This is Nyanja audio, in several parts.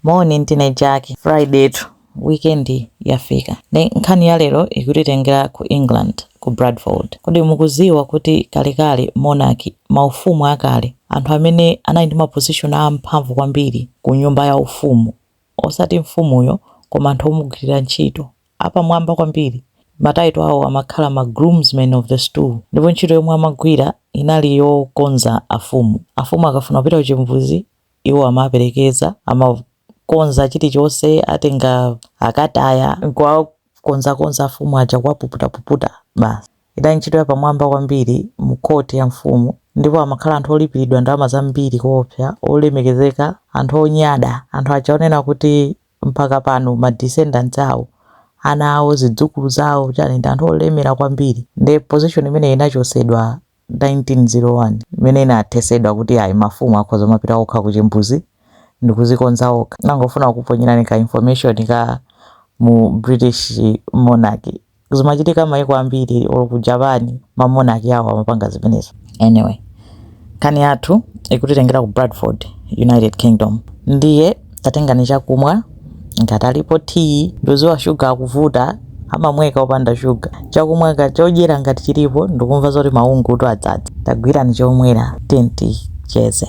Moni ndine Jack. Fridaytu weekend yafika nde nkhani ya lero ikutitengera ku England ku Bradford. Kodi mukudziwa kuti kalekale monarchy, ma ufumu akale, anthu amene anali ndi ma position a mphamvu kwambiri ku nyumba ya ufumu osati mfumuyo koma anthu omugwilira ntchito apamwamba kwambiri ma title awo amakhala ma groomsmen of the stool ndipo ntchito yomwe amagwira inali yokonza afumu. Afumu akafuna kupita ku chimbuzi Iwo amaperekeza, amakonza chilichonse, atenga akataya n'kuwakonzakonza afumu aja, kuwapuputa-puputa basi. Idali ntchito yapamwamba kwambiri mu court ya mfumu ndipo amakhala anthu olipiridwa ndalama zambiri koopsa, olemekezeka, anthu onyada, anthu aja onena kuti mpaka pano ma descendants awo, ana awo, zidzukulu zawo, chani, ndi anthu olemera kwambiri nde position imeneyi inachotsedwa 1901 imene inathetsedwa kuti ayi mafumu akhoza kumapita okha ku chimbuzi ndikudzikonza okha. Ndangofuna kukuponyerani ka information ka mu British monarchy. Zimachitika maiko ambiri olo ku Japan ma monarchy awo amapanga zimenezo. Anyway nkhani yathu ikutitengera ku Bradford, United Kingdom ndiye tatengani chakumwa. ngati alipo tea ndikudziwa shuga akuvuta amamweka opanda shuga chakumwa ka chodyera ngati chilipo ndikumva zoti maungutu adzadza, tagwirani chomwera tiyeni ticheze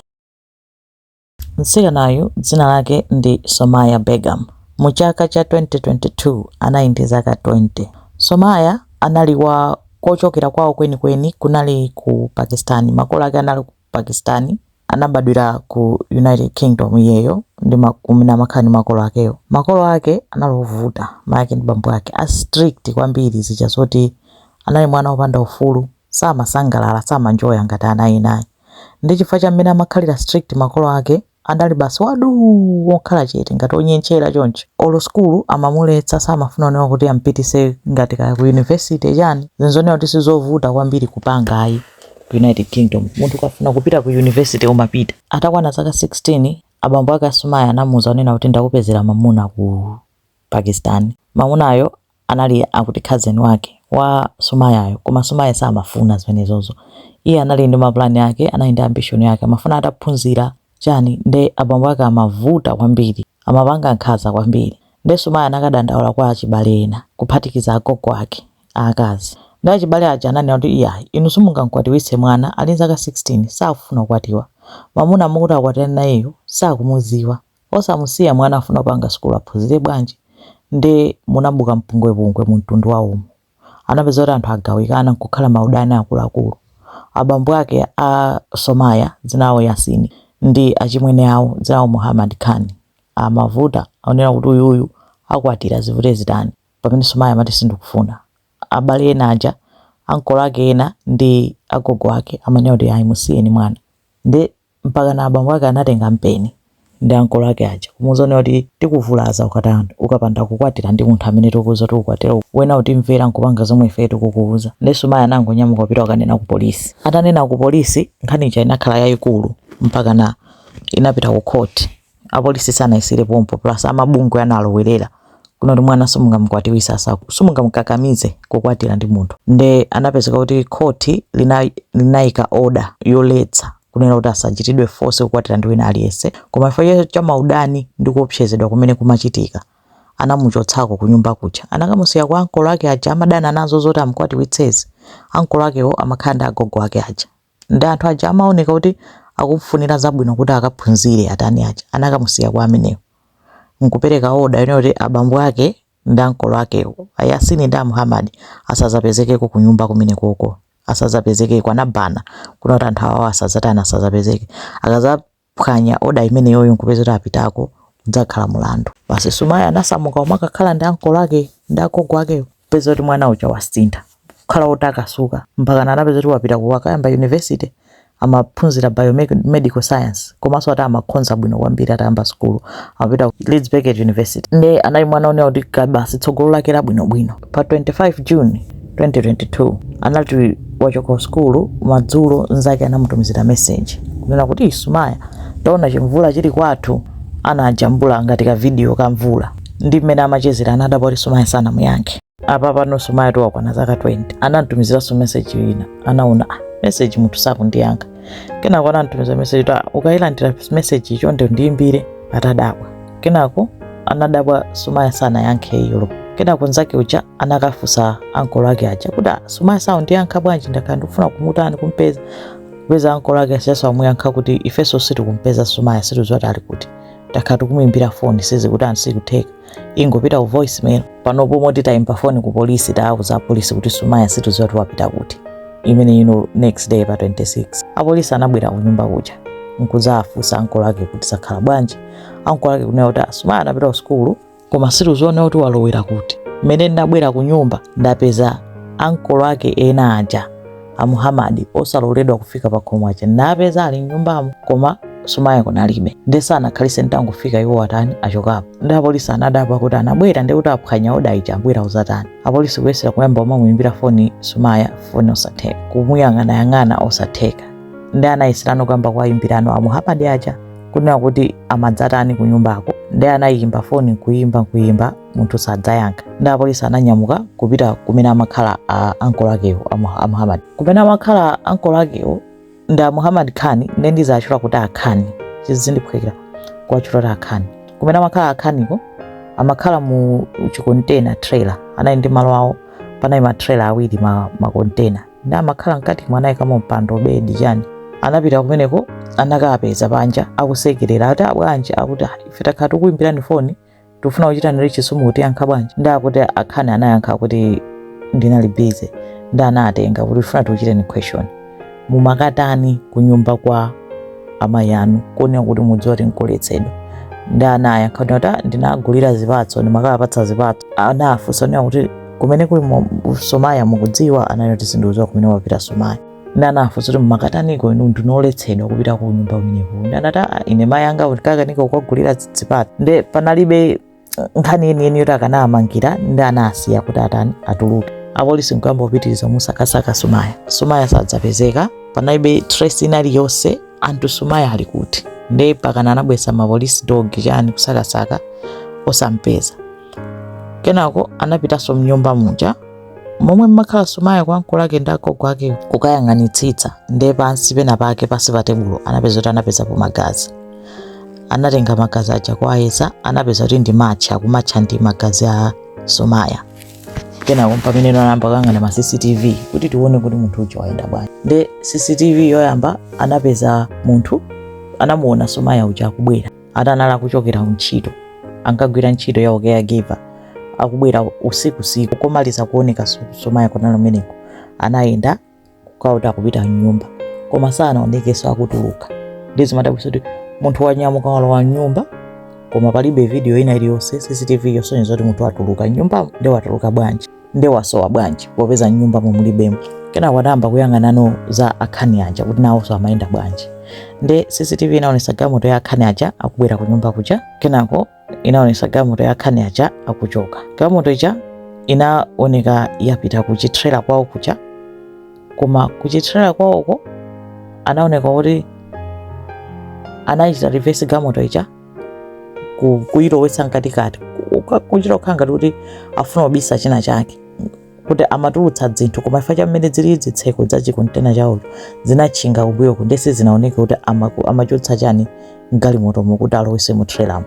mtsikanayu dzina lake ndi somaya begum mu chaka cha 2022 anali ndi zaka 20 somaya anali wa kochokera kwawo kwenikweni kunali ku pakistan makolo ake anali ku- Pakistan, anabadwira ku United Kingdom iyeyo ndi ma, kumene amakhala ndi makolo akewo. Makolo ake anali ovuta, mayi ake ndi bambo ake, a strict kwambiri zija zoti anali mwana wopanda ufulu, samasangalala, samanjoya ngati ana ena ayi. Ndi chifukwa cha mmene amakhalira strict makolo ake, adali basi waduu wokhala chete ngati onyentchera choncho olo school amamuletsa samafuna kunena kuti ampitise ngati kaya ku university chani zinthu zonena kuti sizovuta kwambiri kupanga ayi ku united kingdom munthu ukafuna kupita ku university umapita atakwana zaka 16 abambo ake a Somaya anamuuza kunena kuti ndakupezera mamuna ku pakistan mamunayo anali akuti cousin wake wa Somayayo koma Somaya samafuna zimenezozo iye anali ndi mapulani ake anali ndi ambition yake amafuna ataphunzira chani nde abambo ake amavuta kwambiri amapanga nkhaza kwambiri nde Somaya anakadandaula kwa achibale ena kuphatikiza agogo ake aakazi nde achibale aja ananena kuti iyayi inu simungamkwatiwitse, mwana ali nzaka 16 sakufuna kukwatiwa mamuna mukuti akwatirani nayeyo sakumudziwa Osamusiya mwana afuna kupanga sukulu aphunzire bwanji nde munabuka mpungwepungwe mu mtundu wawomo. Anapeza kuti anthu agawikana nkukhala maudani akuluakulu. Abambo ake a Somaya dzina lawo Yasini ndi achimwene awo dzina lawo Muhamad Khan amavuta akunena kuti uyuyu akwatira zivute zitani pamene Somaya amati sindikufuna. Abale ena aja ankolo ake ena ndi agogo ake amanena kuti ayi musiyeni mwana nde mpakana abambo ake anatenga mpeni ndi ankolo ake aja kumuuza kunena kuti tikuvulaza ukatani, ukapanda kukwatira ndi munthu amene tikuuza kuti ukwatire uyu. Wena utimvera nkupanga zomwe ifeyo tikukuuza nde Somaya anangonyamuka kupita kukanena kupolisi atanena kupolisi nkhani ija inakhala yayikulu mpakana inapita ku court. apolisi sanayisiyire pompo plus amabungwe analowerera kunena kuti mwana simungamukwatiwise asaku simungamukakamize kukwatira ndi munthu nde anapezeka kuti khoti lina, linayika order yoletsa kunena kuti asachitidwe force kukwatira ndi wina aliyense koma chifukwa cha maudani ndi kuopsezedwa kumene kumachitika anamuchotsako kunyumba kuja anakamusiya kwa ankolo ake aja amadana nazo zoti amukwatiwitsezi ankolo akewo amakhala ndi agogo ake aja Nde anthu aja amaoneka kuti akumfunira zabwino kuti akaphunzire atani aja anakamusiya kwa amenewo nkupereka order yonena kuti abambo ake ndi ankolo akewo a Yasini ndi a Muhammad asazapezekeko kunyumba kumenekoko asazapezekeko anabana kunena kuti anthu awawa asazatani asazapezeke akazapezeka phwanya oda imeneyoyo nkupeza kuti apitako udzakhala mulandu basi Sumaya anasamuka nkumakakhala ndi ankolo ake ndi agogo akeyo peza kuti mwana uja wasintha kukhala otakasuka mpakana anapeza kuti wapita ku wakayamba university amaphunzira biomedical science komanso ati amakhonza bwino kwambiri atayamba sukulu amapita ku leeds beckett university nde anali mwana onena kuti ka- basi tsogolo lake labwinobwino Pa 25 June, 2022, anati wachoka ku sukulu madzulo nzake anamutumizira message kunena kuti Sumaya taona chimvula chili kwathu anajambula ngati ka video ka mvula ndi mmene amachezera anadabwa kuti Sumaya sanamuyankhe. Apa pano Sumaya nkuti wakwana zaka 20 anamtumiziranso message ina anaona ah, message munthu sakundiyankha kenako anamtumizira meseji kuti ukayilandira meseji chonde ndiyimbire atadabwa kenako anadabwa Sumaya sanayankhe iyo kenako nzake uja anakafusa ankolo ake aja kuti "Ah, Sumaya sakundiyankha bwanji ndakhala ndikufuna kumutani kumpeza kupeza ankolo ake ajaso amuyankha kuti ifeso sitikumpeza Sumaya sitikuziwa kuti ali kuti takhala tikumuimbira foni sizikutani sikutheka ingopita ku voicemail panopo moti tayimba foni ku polisi tawuza apolisi kuti Sumaya situziwa kuti wapita kuti imeneyo next day pa 26 apolisi anabwera ku nyumba kuja nkuzafunsa ankolo ake kuti zakhala bwanji ankolo ake kunena kuti Sumaya anapita ku sukulu koma situziwa kuti walowera kuti mmene ndinabwera ku nyumba ndapeza ankolo ake ena aja a Muhammad osaloledwa kufika pa khomo aja napeza ali mnyumbamo koma Sumaya kunalibe nde sanakhalitse nditangofika iwo atani achokapo nde apolisi anadabwa kuti anabwera nde kuti aphwanya oda ija abwera kuzatani apolisi kuyesera kuyamba kumamuyimbira foni Sumaya foni osatheka kumuyang'anayang'ana osatheka nde anayeserano kuyamba kuwayimbirano a Muhammad aja kunena kuti amadzatani kunyumbako nde anayimba foni nkuyimba nkuyimba munthu sadzayankha nde apolisi ananyamuka kupita kumene amakhala a ankolo akewo a Muha- a muhammad kumene amakhala ankolo akewo ndi a muhammad Khan nde ndizatchula kuti akhani chizindiphwekera kuwatchula kuti akhani kumene amakhala akhaniko amakhala mu chikontena trailer anali ndi malo awo panali matrailer awiri ma, makontena nde amakhala mkatimo anayika mampando bedi chani anapita kumeneko anakapeza panja akusekerera ati abwanji akuti "Ah, ife takhala tikuimbirani foni tikufuna kuchitani reach simukutiyankha bwanji nde akuti akhani anayankha kuti ndinali busy nde anawatenga kuti tifuna tikuchiteni question mumakatani kunyumba kwa amayi anu kuonera kuti mukudziwa kuti nkoletsedwa nde anayankha kuti ati ndinagulira zipatso ndimakapatsa zipatso anafunsa kunena kuti kumene kuli mu- sumaya mukudziwa anati sindikudziwa kumene wapita sumaya nde anafunsa kuti mumakataniko inu ndinu oletsedwa kupita ku nyumba kumeneko nde anati "Ah, ine mayi anga ndikakanika kukagulira zipatso nde panalibe eh, nkhani yeniyeni yoti akanawamangira nde anasiya kuti atani atuluke apolisi nkuyamba kupitiriza kumusakasaka sumaya sumaya sadzapezeka panalibe trace ina iliyonse anthu sumaya ali kuti nde mpakana anabwesa ma police dog chani kusakasaka osampeza kenako anapitanso mnyumba muja momwe mmakhala sumaya kwa ankolo ake ndi agogo akewo kukayang'anitsitsa nde pansi pena pake pansi pa tebulo anapeza kuti anapezapo magazi anatenga magazi aja kuwayeza anapeza kuti ndi match akumatcha ndi magazi a sumaya kenako mpamene anayamba kuyang'ana ma cctv kuti tione kuti munthu uja wayenda bwanji nde cctv yoyamba anapeza munthu anamuona sumaya uja akubwera ati anali akuchokera kuntchito ankagwira ntchito ya ucaregiver akubwera usiku usiku komaliza kuoneka so- sumaya kunali kumeneko anayenda kukauta kupita mnyumba koma sanaonekenso akutuluka nde zimadabwisa kuti munthu wanyamuka walowa mnyumba koma palibe video ina iliyonse cctv yosonyeza kuti munthu watuluka mnyumbamo nde watuluka bwanji nde wasowa bwanji popeza mnyumbamo mulibemo kenako anayamba kuyang'anano za akhani aja kuti nawonso amayenda bwanji nde cctv inaonesa galimoto ya akhani aja akubwera ku nyumba kuja kenako inaonesa galimoto ya akhani aja akuchoka galimoto ija inaoneka yapita kuchitrela kwawo kuja koma kuchitrela kwawoko anaoneka kuti anachita reverse galimoto ija ku- kuyilowetsa mkatikati ku- ku- kuchita kukhala ngati kuti afuna kubisa china chake kuti amatulutsa zinthu koma chifukwa cha mmene zili zitseko za chikontena chawocho zinatchinga kumbuyoku nde sizinaoneke kuti amaku- amachotsa chani mgalimotomo kuti alowese mu trailermo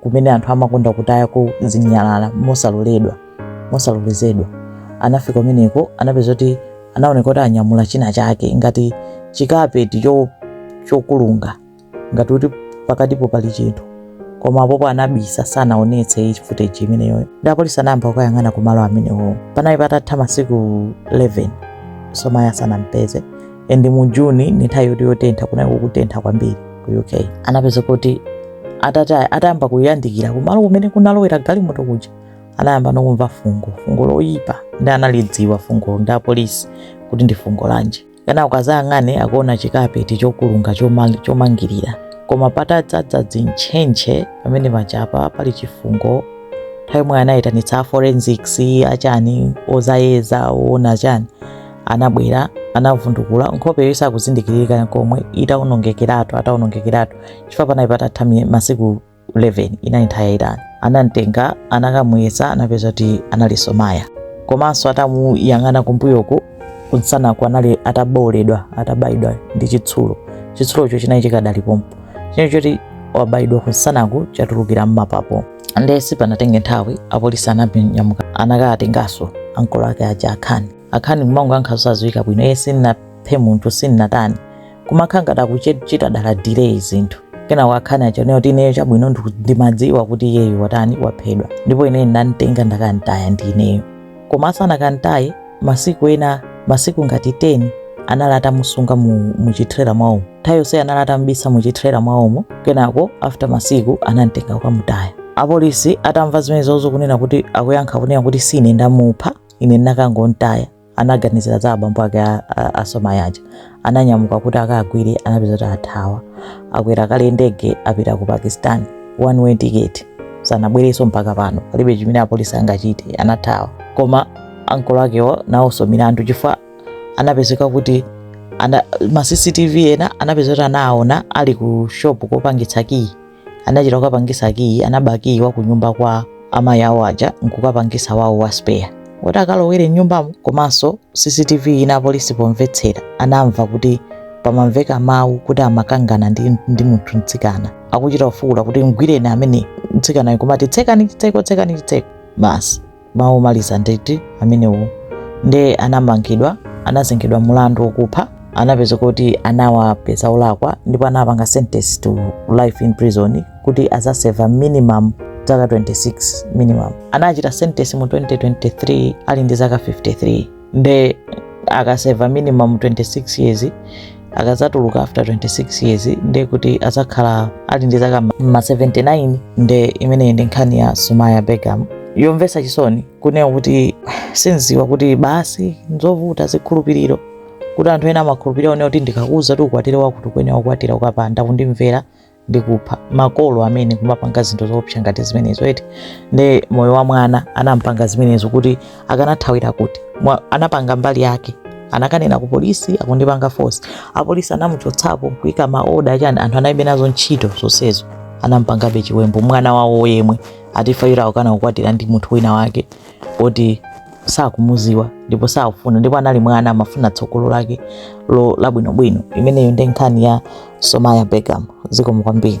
kumene anthu amakonda kutayako zinyalala mosaloledwa mosalolezedwa anafika kumeneko anapeza kuti anaoneka kuti anyamula china chake ngati chikapeti cho- chokulunga ngati kuti pakatipo pali chinthu koma apopo anabisa sanaonetse iyi footage imeneyoyo nde apolisi anayamba kukayang'ana kumalo amenewo panali patatha masiku 11 somaya sanampeze and mu june ndi nthawi yoti yotentha kunali kukutentha kwambiri ku uk anapeza kuti atati atayamba kuyandikira kumalo kumene kunalowera galimoto kuja anayambano kumva fungo fungo loyipa nde analidziwa fungo ndi apolisi kuti ndi fungo lanji kunena kuti akazayang'ane akuona chikapeti chokulunga chomang- chomangirira koma patadzadza zintchentche pamene pajapa pali chifungo nthawi yomweyo anayitanitsa a forensics achani ozayeza oona achani anabwera anavundukula nkhopeyo isakuzindikiririka nkomwe itawonongekeratu atawonongekeratu chifukwa panali patatha mi- masiku 11 inali nthawi yayitali anamtenga anakamuyesa anapeza kuti anali somaya komanso atamuyang'ana kumbuyoku kunsanaku anali atabowoledwa atabayidwa ndi chitsulo chitsulocho chinali chikadali pompo chinali choti wabayidwa kunsanaku chatulukira mmapapo nde sipanatenge nthawi apolisi ananyamuka anakatenganso ankolo ake aja akhani akhani kumangoyankha zosadziwika bwino iye sinnaphe munthu sinnatani kumakhala ngati akuchita dala delay zinthu kenako akhani anachita kunena kuti ineyo chabwino ndiku- ndimadziwa kuti iyeyu watani waphedwa ndipo ineyo ndinamtenga ndakantaya ndi ineyo koma asanakantaye masiku ena masiku ngati 10 anali atamusunga mu, mu chitrela mwawomo nthawi yonse anali atamubisa mu chitrela mwawomo kenako after masiku anamtenga kukamutaya apolisi atamva zimenezozo kunena kuti akuyankha kunena kuti sine ndamupha ine ndinakangomtaya anaganizira za abambo ake a- a- a somaya aja ananyamuka kuti akagwire anapeza kuti athawa akwera kale ndege apita ku pakistan one way ticket sanabwereso mpaka pano palibe chimene apolisi angachite anathawa koma ankolo akewo nawonso milandu chifukwa anapezeka kuti ana, ma cctv ena anapeza kuti anaona ali ku shop kopangitsa kiyi anachita kukapangisa kiyi anaba kiyi wa kunyumba kwa amayi awo aja nkukapangisa wawo wa spare woti akalowere mnyumbamo komanso cctv ina apolisi pomvetsera anamva kuti pamamveka mawu kuti amakangana ndi munthu mtsikana akuchita kufuwula kuti mgwireni amene mtsikanayo kumati tsekani chitseko tsekani chitseko basi mawu omaliza nditi amenewo ndiye anamangidwa anazengedwa mulandu wokupha anapeza kuti anawapeza olakwa ndipo anawapanga sentence to life in prison kuti azaseva minimum zaka 26 minimum anachita sentence mu 2023 ali ndi zaka 53 nde akaseva minimum 26 years akazatuluka after 26 years nde kuti azakhala ali ndi zaka ma 79 nde imeneyi ndi nkhani ya somaya begum yomvesa chisoni kunena kuti sinziwa kuti basi nzovuta zikhulupiriro kuti anthu ena amakhulupirira onena kuti ndikakuuza kuti ukwatire wakuti ukuyenera kukwatira ukapanda kundimvera ndikupha makolo amene kumapanga zinthu zoopsa ngati zimenezo eti nde moyo wa mwana anampanga zimenezo kuti akanathawira kuti anapanga mbali yake anakanena ku polisi akundipanga force apolisi anamuchotsapo kuika maoda chani anthu anaibe nazo ntchito zonsezo anampangabe chiwembu mwana wawo yemwe ati chifukwa akukana kukwatira ndi munthu wina wake oti sakumuziwa ndipo sakufuna ndipo anali mwana amafuna tsogolo lake lo labwinobwino imeneyo ndi nkhani ya somaya begum zikomo kwambiri